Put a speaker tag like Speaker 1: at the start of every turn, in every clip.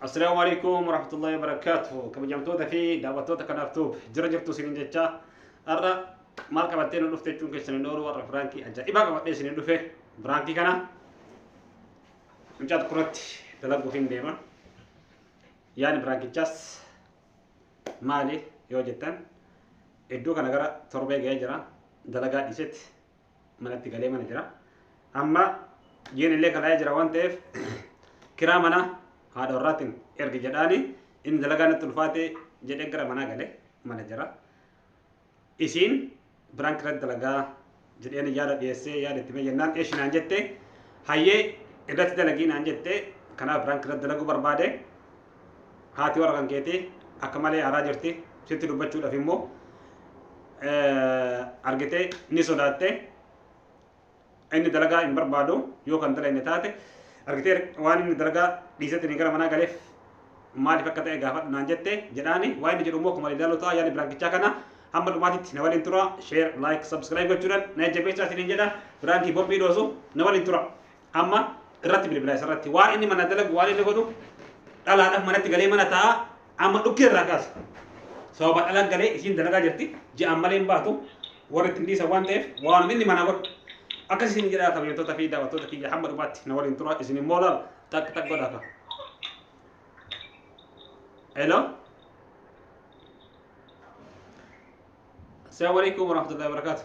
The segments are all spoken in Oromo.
Speaker 1: Assalaamu alaikum warahmatullahi wabarakatuh. Kabajamtoota fi daawwattoota kanaaf tuub jira jirtu isin jecha har'a maal qabattee nu dhufte jechuun keessan hin oolu warra firaankii ajaa'ibaa qabadhee isin dhufe firaankii kana mucaa tokkorratti dalaguuf hin deema. Yaani firaankichaas maali yoo jettan iddoo kana gara torbee ga'ee jira dalagaa dhiisetti manatti galee mana jira. Amma jiin illee kalaa'ee jira waan ta'eef kiraa mana haadha warraatiin ergi jedhaani inni dalagaa natti ulfaate jedhee gara manaa gale mana jira. Isiin biraan kiratti dalagaa jedheen yaada dhiyeessee yaada itti mee jennaan eeshi naan jette hayyee irratti dalagii naan jette kanaaf biraan kiratti dalaguu barbaade haati warra kan keetii akka malee aaraa jirti sitti dubbachuudhaaf immoo argitee ni sodaattee inni dalagaa hin barbaadu yoo kan dalagne taate argitee waan inni dalagaa dhiisetti ni gara manaa galeef maaliif akka ta'e gaafadhu naan jette jedhaani waan inni jedhu immoo akkuma ilaaluu ta'a yaadni biraankichaa kana hamma dhumaatitti na waliin tura share like subscribe gochuudhaan na jajjabeessaa isiniin jedha biraankii bombii dhoosu na waliin tura. Amma irratti bilbila isarratti waan inni mana dalagu waan inni godhu dhalaadhaaf manatti galee mana taa'a amma dhukkee irraa kaasa. Sababa dhalaan galee isiin dalagaa jirti ji'aan malee hin baatu warri ittiin dhiisan waan ta'eef waan inni mana godhu. Akkas isin jedhaa kabajattoota fi daawwattoota kiyya hamma dhumaatti na waliin tura isin immoo laala takka takka godhaa qaba. Hello. Assalamu alaikum warahmatullahi wabarakatuh.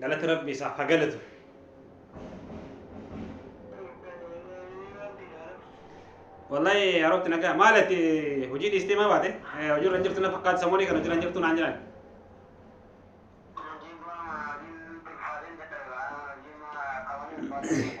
Speaker 1: Galata Rabbi isaaf ha galatu. Wallahi haroofti nagaa maal ati hojii dhiistee maa baate? Eh, Hojii irra hin jirtu na fakkaata samoonii kana hojii irra hin jirtu naan jedhan. Thank you.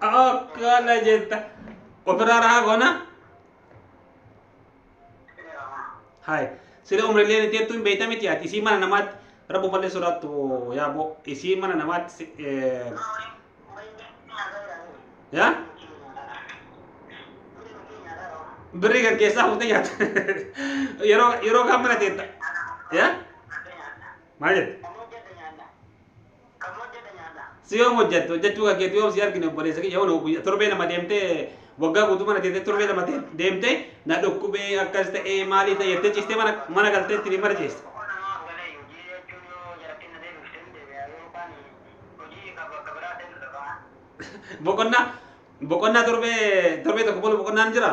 Speaker 1: akkana jetta ofirraa rahaa goona hay sila umrilleen itti jettu hin beeyta miti ati isii mana namaatti rabbu ballee sodaattu yaa boo isii mana namaatti si- eh, yaa birrii kan keessaa fuutee nyaata yeroo yeroo kaan mana teetta yaa Maal jette? Kan hojjedha nyaadha. Kan hojjedha nyaadha. Si yoom hojjette? Hojjechuu kan keetu yoom si argine obboleessa kiyya yoon guyyaa torbee lama deemtee waggaa guutuu mana teessee torbee lama tee- deemtee na dhukkubee akkas ta'ee maalii ta'e jettee ciistee mana mana galtee ittiin hin marjeessu. Tokko namaaf galee hojii jechuun yoo jarattiin na deebifte hin deebi'a yoo kaan hojii ka bakka biraa ta'e nu dhaqa. Boqonnaa boqonnaa torbee torbee tokko bulu boqonnaan jira.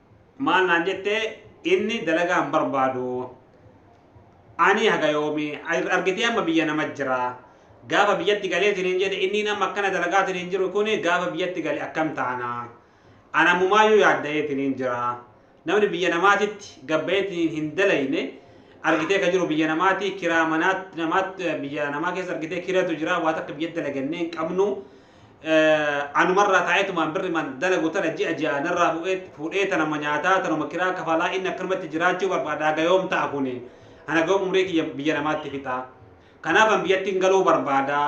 Speaker 1: Maal naan jette inni dalagaa hin barbaadu ani haga yoomi argitee amma biyya nama jira gaafa biyyatti galee siniin jedhe inni amma akkana dalagaa siniin jiru kun gaafa biyyatti gale akkam taana an ammumaayyuu yaadda'ee siniin jira namni biyya namaatitti gabbayee siniin hin dalayne argitee ka jiru biyya namaati kiraa manaatti namaatti biyya namaa keessa argitee kiratu jira waa takka biyyatti dalagannee hin qabnu anumarraa taa'eetumaan birriman dalagu tana ji'a ji'a narraa fuudhee tanuma nyaataa tanuma kiraa kafalaa inni akkanumatti jiraachuu barbaada haga yoom ta'a kuni an haga yoom umrii kiyya biyya namaatti fixa kanaaf an biyyattiin galuu barbaada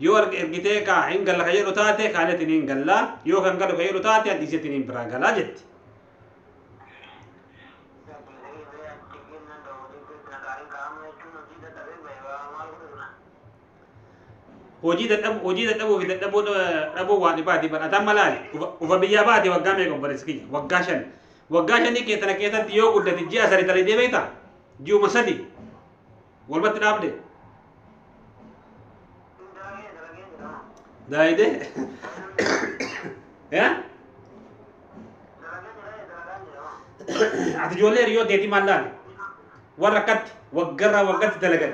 Speaker 1: yoo ergitee kaa hin galla ka jedhu taate kaanetiin hin galla yoo kan galu ka jedhu taate an dhiisetiin hin biraa galaa jetti. hojii dadhabu hojii dadhabuu fi dadhaboo dhaboo waa dhibaati bar ataan malaali ufa biyyaa baate waggaa meeqa obboleessi kiyya waggaa shan waggaa shanii kee tana keessatti yoo guddate ji'a sadi tale deebeeta ji'uma sadi walumatti dhaabde daayide yaa ati ijoollee hiriyoo teetii maal laale warra akkatti waggarraa waggatti dalagan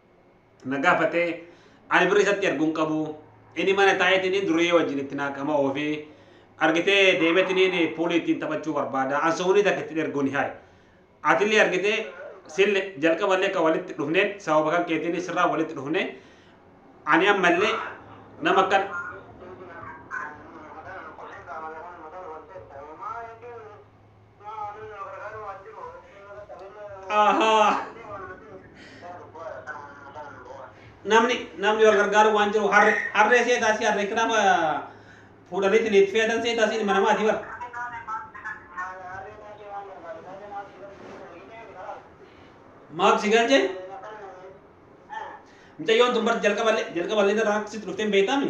Speaker 1: na gaafate ani birri isatti ergu hin qabu inni mana taa'eetiniin duriyyee wajjin itti naaqama oofi argitee deemetiniin puulii ittiin taphachuu barbaada an soonii takka ittiin erguun hin haye atillee argitee sille jalqaballee kan walitti dhufneen sababa kan keetiin sirraa walitti dhufne ani ammallee nama kan Ahaa. Namni namni wal gargaaru waan jiru harre harree seetaa si harree kiraama fuudhaniitiin itti feetan seetaa si mana maatii bara. Maaf si galchee? Mucayyoon tun bara jalqaballee jalqaballee irraa akka sitti dhufteen beektaami?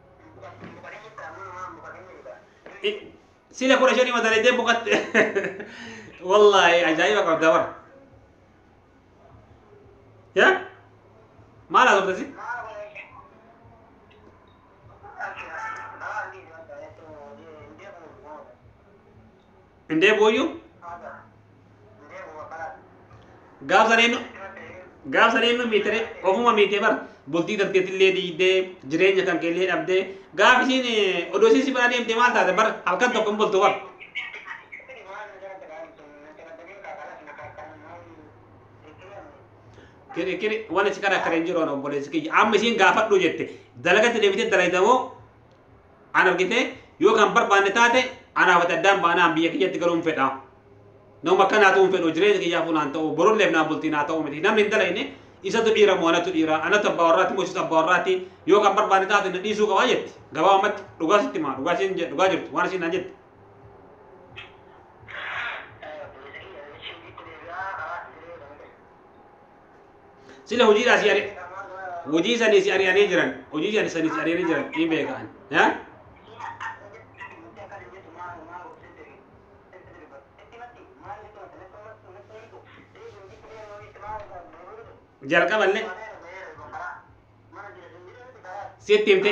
Speaker 1: sila kudha shanii madaleedee boqatte wallaahi ajaa'iba qabda bara ya maal haasofte Hin deebi'uuyyu? Gaaf san eenyu? Gaaf san eenyu miitiree? Ofuma miitee bara. Bultii darteetillee diigdee jireenya kan keellee dhabdee gaaf isiin eh, odoo isiin si bira deemtee maal taate bara halkan tokko hin bultu bara. Kiri kiri waan si karaa kara hin jiru waan obboleessi kiyya. Amma isiin gaafadhu jette dalagatti deebitee dalagda moo Ana argitee yoo kan barbaanne taate anaaf ati addaan baanaa an biyya kiyyatti galuun fedha. Nama akkanaatu hin fedhu jireenya kiyyaaf unaan ta'u borulleef naa bultii naa ta'u miti namni hin dalayne isatu dhiira moo anatu dhiira anatu abbaa warraati moo isatu abbaa warraati yoo kan barbaanne taate na dhiisuu qabaa jetti gabaabumatti dhugaa sitti maa dhugaa isiin je- dhugaa jirtu waan isiin naan jette. Obboleessa kiyya ishee itti deebi'aa karaa itti jiree kan hin Sila hojiidhaa si ari'e. Hojii sanii si ari'anii jiran. Hojii sanii sanii si ari'anii jiran. Ni beekaan. Haa? Jalqaballee sitti himte.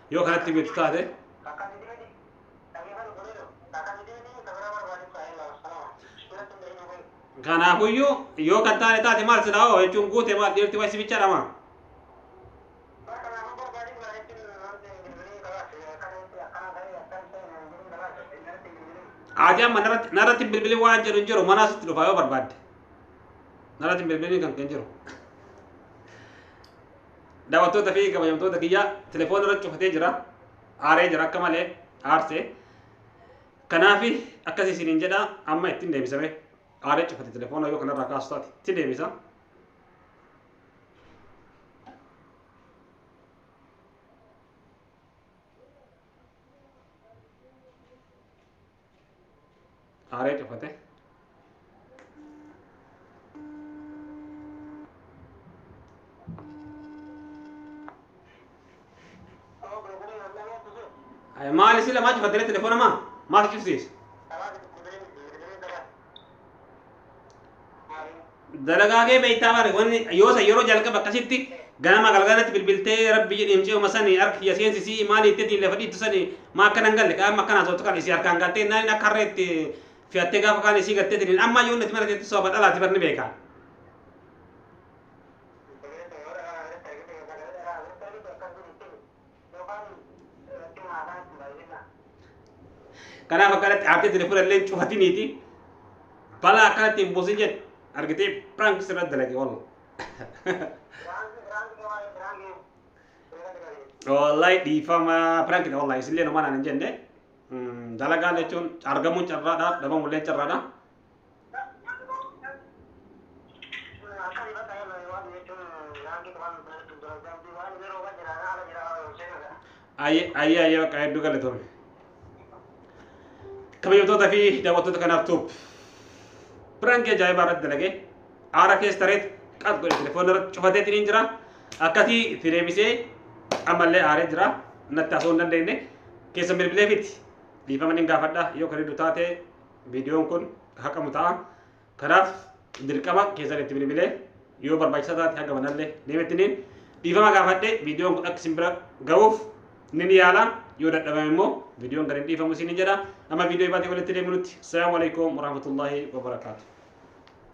Speaker 1: yoo kanatti beektu taate kanaafuyyuu yoo kan taane taate maal silaa hoo jechuun guute maal dhiirti waysi bicha dhama ati amma narratti narratti hin bilbilin waan jedhu hin jiru manaa sitti dhufa yoo barbaadde narratti hin bilbilin kan kan jiru Daawwattoota fi kabajamtoota kiyya telefoona irra cufatee jira. Aaree jira akka malee aarse. Kanaaf akkasii isiniin jedha amma ittiin deebisame. Aaree cufate telefoona yoo kanarraa kaasu taate itti deebisa. Aaree cufate. Maali sila maa cufattee telefoona maa maal cufsiise? Dalagaa kee beektaa maali? Wanni yoo san yeroo jalqaba akkasitti ganama galgalatti bilbiltee rabbi jedhi mucayuma sani harka kiyya seensisii maali itti diin lafa dhiittu sani maa akkana hin galle qaama akkanaa sooftu kan isii harkaan gattee naan akka harree itti fi'attee gaafa kaan isii gattee tiniin amma yoo natti mara jetti sooba dhalaati barni beekaa. Kanaaf akkanatti haatee tuni fudhallee cufati miti. Balaa akkanatti hin buusin jedhe. Argitee prank sirra dalage wallah. Wallahi dhiifama prank dha wallahi isillee nama naan hin jenne. Dalagaa jechuun argamuun carraadha dhabamullee carraadha. Akka ifa ta'ee bahe waan jechuun daandii qubaan bilbila jechuun dura daandii waan inni rooba jira na ala jira hojjee naga. Ayyee ayyee ayyee bakka hedduu galatoome. Kabajamtoota fi daawwattoota kanaaf tuub. Piraanki ajaa'ibaa irratti dalagee aara keessa tareet qas godhe telefoona irratti cufateetiin hin jira. Akkasii itti deebisee ammallee aaree jira. Natti haasoo hin dandeenye. Keessa bilbilee fiti. Dhiifama nin gaafadha yoo kan hedduu taate viidiyoon kun haqamu ta'a. Kanaaf dirqama keessan itti bilbilee yoo barbaachisaa taate haga manallee deemettiniin dhiifama gaafadhe viidiyoon kun akka isin bira ga'uuf nin yaala yoo dadhabame immoo viidiyoon kan hin dhiifamu isin hin jedha amma viidiyoo ibaatee walitti deemunutti salaamu alaikum warahmatullaahi wabarakaatu.